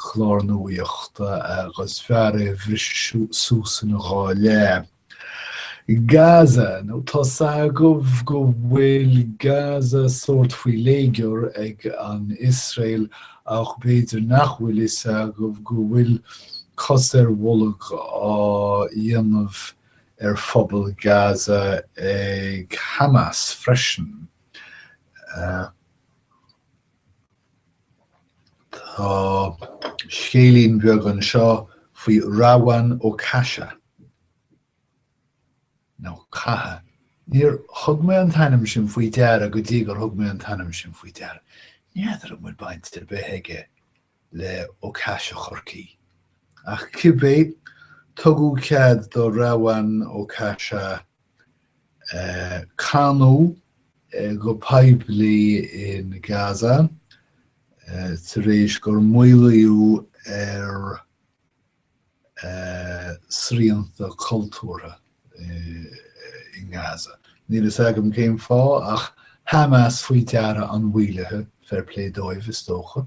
chlár nuaíochta agus b'fhearr é a bhriseadh suas ina dhá leath. Gaza, nó tá's agaibh go bhfuil Gaza sórt faoi léigear ag an Iosrael ach b'fhéidir nach bhfuil fhios agaibh go bhfuil cos ar bholg á dhéanamh ar phobal Gaza ag Hamas freisin. Tá scéilín bheag anseo faoi Rawan Okasha, nó Catha, níor thug mé an t-ainm sin faoi deara go dtí gur thug mé an t-ainm sin faoi deara. N'fheadar an bhfuil baint ar bith aige le Ó Caise Chorcaí. Ach cibé, tugadh cead do Rawan Okasha canadh go poiblí in Gaza tar éis gur maolaíodh ar shrianta cultúrtha in Gaza. Níl a fhios agam cén fáth ach Hamas faoi deara an mhaolaithe, fair play dóibh is dócha.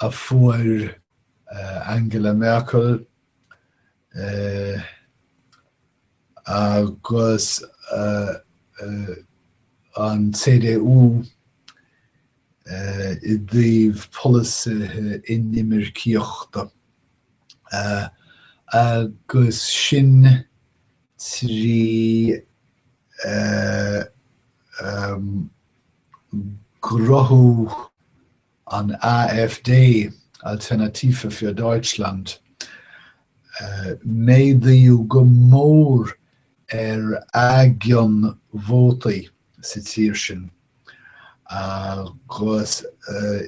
a fuair Angela Merkel agus an CDU i dtaobh polasaithe inimircíochta, agus sin trí gcruthú an AfD, Alternative für Deutschland. Méadaíodh go mór ar a gcion vótaí sa tír sin agus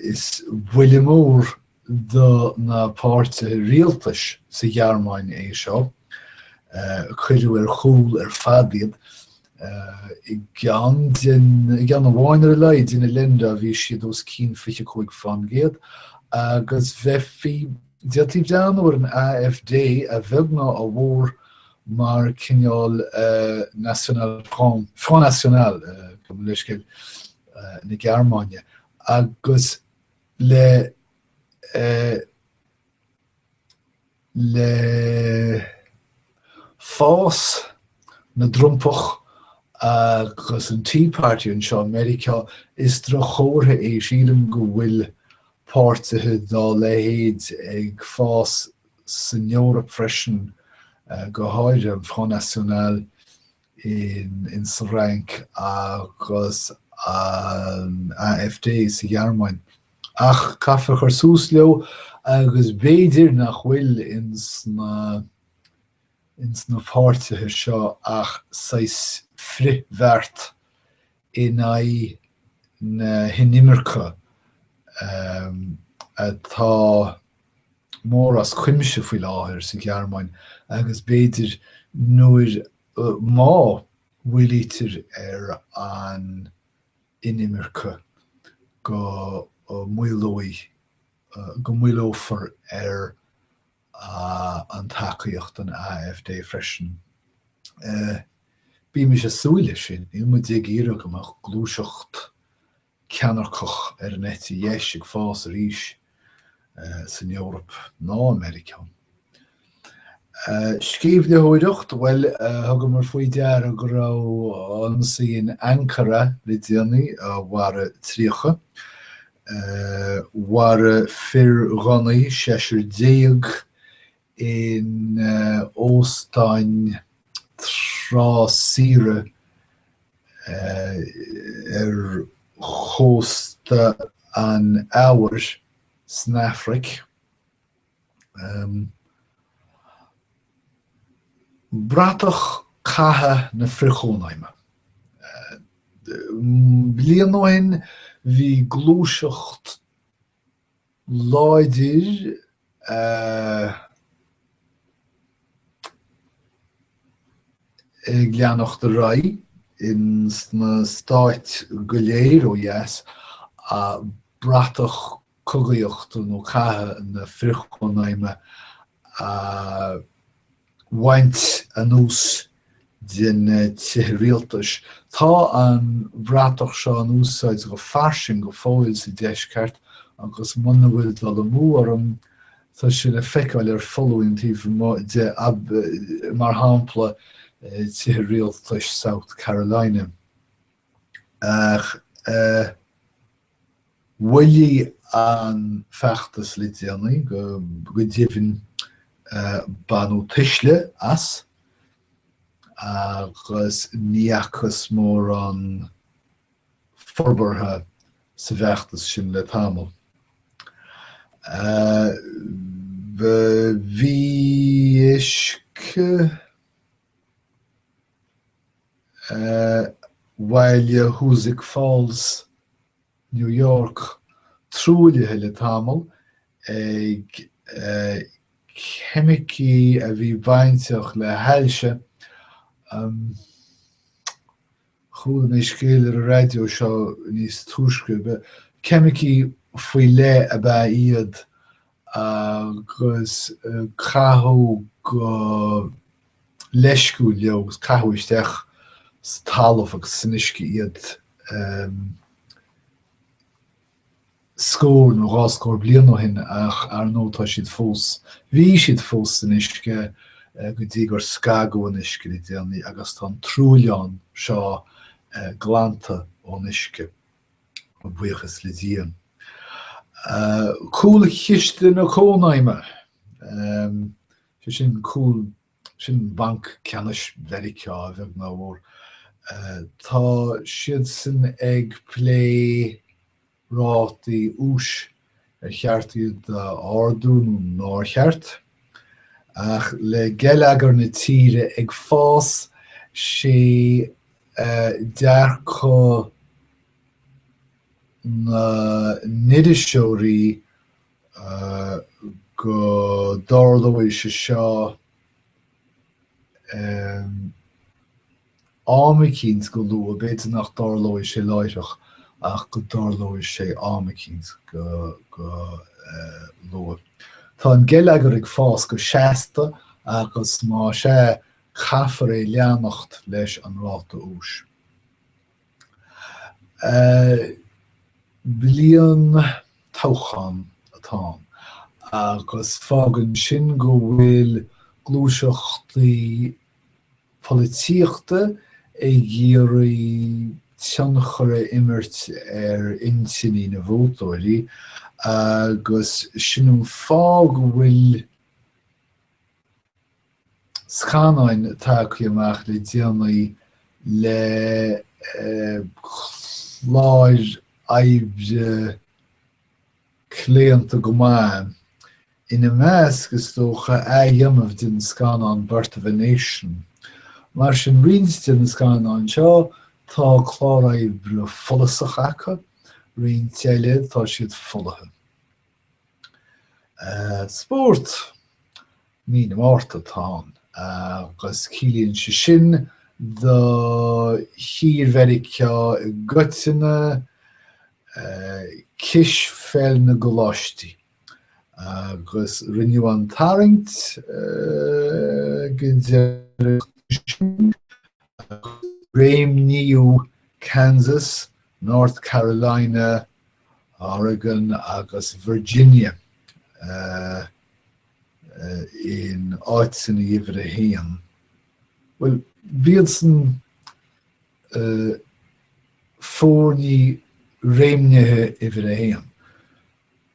is buille mór do na páirtithe rialtais sa Ghearmáin é seo, cuireadh ar chúl ar fad iad, i gceann de na, i gceann amháin ar a laghad de na Länder bhí siad os cionn 25%, agus bheifí, d'fhéadfaí breathnú ar an AfD a bheag ná a mhór mar chineál National Front, Front National, gabh mo leithscéal, na Gearmáine, agus. le le fás na dTrumpach agus an Tea Party anseo i Meiriceá, is droch-chomhartha é, sílim, go bhfuil páirtithe dá leithéid ag fás san Eoraip freisin, go háirithe an Front National in sa Fhrainc agus an AfD sa Ghearmáin, ach caithfear cur suas leo agus b'fhéidir nach bhfuil ins na páirtithe seo ach saghas frithbheart in aghaidh na hinimirce atá mór as cuimse faoi láthair sa Ghearmáin agus b'fhéidir nuair, má maolaítear ar an inimirce, go maolófar ar an tacaíocht don AfD freisin. Bímis ag súil leis sin, níl muid ag iarraidh go mbeadh gluaiseacht ceannairceach ar an eite dheis ag fás arís san Eoraip ná i Meiriceá. Scríbhneoireacht, bhuel, thugamar faoi deara go raibh ionsaí in Ankara le déanaí a mharaigh 30, a mharaigh fir ghunnaí, seisear déag, in óstáin trá saoire ar chósta an Eabhair san Afraic. Bratach catha na frithchónaidhme. Bliain ó shin bhí gluaiseacht láidir ag leanacht ar aghaidh ins na Stáit go léir ó dheas, bratach cogaíochta nó catha na frithchónaidhme a bhaint anuas de na tithe rialtais. Tá an bhratach seo in úsáid go fairsing go fóill sa Deisceart agus muna bhfuil dul amú orm, tá sé le feiceáil ar foluain taobh amuigh de, mar shampla, tithe rialtais South Carolina. Mhaolaigh an feachtas le déanaí, go deimhin baineadh tuisle as agus ní fhacthas mórán forbartha sa bhfeachtas sin le tamall. Bhí. Bhuel bhí Hoosick Falls, New York, truaillithe le tamall ag ceimicí a bhí bainteach le hailse, chuala mé scéal ar an raidió seo níos túisce, ceimicí faoi leith ab ea iad agus caitheadh go leisciúil leo agus caitheadh isteach sa talamh agus san uisce iad scór nó dhá scór bliain ó shin ach ar ndóigh tá siad fós, bhí siad fós san uisce go dtí gur scagadh an uisce le déanaí agus tá an truailleán seo glanta ón uisce. A bhuíochas le Dia. Cúlchiste na Cónaidhme, sé sin comhionann sin le Banc Ceannais Mheiriceá a bheag ná a mhór, tá siadsan ag plé rátaí úis ar cheart iad a ardú nó nár cheart. Ach le geilleagar na tíre ag fás, sé dearcadh na n-iriseoirí go dtarlóidh sé seo ar. am eicínt go luath, b'fhéidir nach dtarlóidh sé láithreach ach go dtarlóidh sé am eicínt go luath. Tá an geilleagar ag fás go seasta agus más é, caithfear é leanacht leis an ráta úis. Bliain toghcháin atá ann agus fágann sin go bhfuil gluaiseachtaí polaitíochta ag iarraidh tionchar a imirt ar intinní na vótóirí agus sin an fáth go bhfuil scannáin tagtha amach le déanaí le cláir oibre claonta go maith. Ina measc, is dócha, athdhéanamh den scannán Birth of a Nation. Mar sin, roinnt de na scannáin seo, tá clár oibre follasach acu, roinnt eile, tá siad folaithe. Spórt. Mí na Márta atá ann agus ciallaíonn sé sin do thír Mheiriceá i gcoitinne, cispheil na gcoláistí agus rinneadh an tarraingt an deireadh seachtaine sin agus réimníodh Kansas, North Carolina, Oregon agus Virginia. in áiteanna uimhir a haon. Bhuel, ciallaíonn sé sin foirní réimnithe uimhir a haon.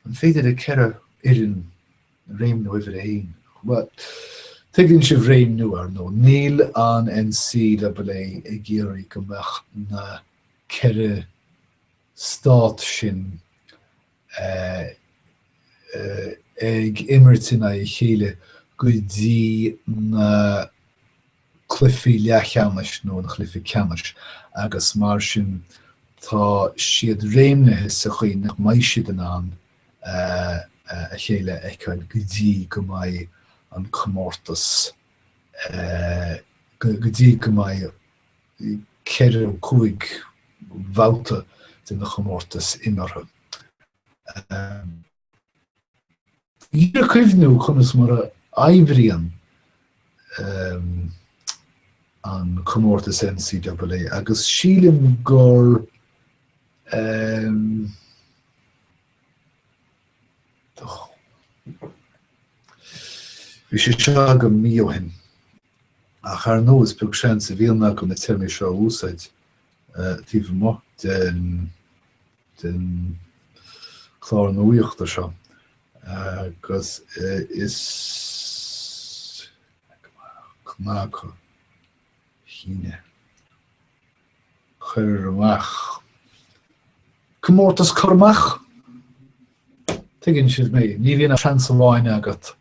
An féidir leat ceithre fhoireann réimniú uimhir a haon? Bhuel, tuigeann sibh réimniú, ar ndóigh. Níl an NCAA ag iarraidh go mbeadh na ceithre stát sin ag imirt in aghaidh a chéile go dtí na cluichí leathcheannais nó an cluiche ceannais agus mar sin tá siad réimnithe sa chaoi nach mbeidh siad in ann a chéile a fheiceáil go dtí go mbeidh an comórtas, go dtí go mbeidh 4 nó 5 bhabhta den chomórtas imeartha. Ar ndóigh, cuimhnigh conas mar a oibríonn an comórtas NCAA agus sílim gur bhí sé seo agam mí ó shin. Ach ar ndóigh, is beag seans a bhíonn agam na téarmaí seo a úsáid taobh amuigh den den chlár nuachta seo agus is cnagadh é. Cur amach, comórtas cur amach! Tuigeann sibh mé, ní bhíonn ach seans amháin agat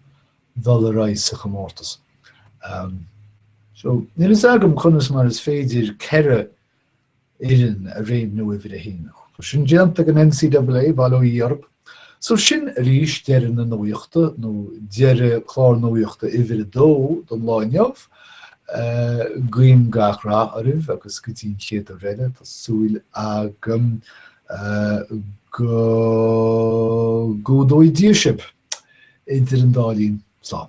dhul ar aghaidh sa chomórtas. So níl a fhios agam conas mar is féidir ceithre fhoireann a réimniú uimhir a haon. Tá sin déanta ag an NCAA, Bail ó Dhia orthu. So sin arís deireadh na nuachta, nó deireadh clár nuachta uimhir a dó don lá inniu. Guím gach rath oraibh agus go dtí an chéad uair eile, tá súil agam go gcumhdóidh Dia sibh. Idir an dá linn, slán.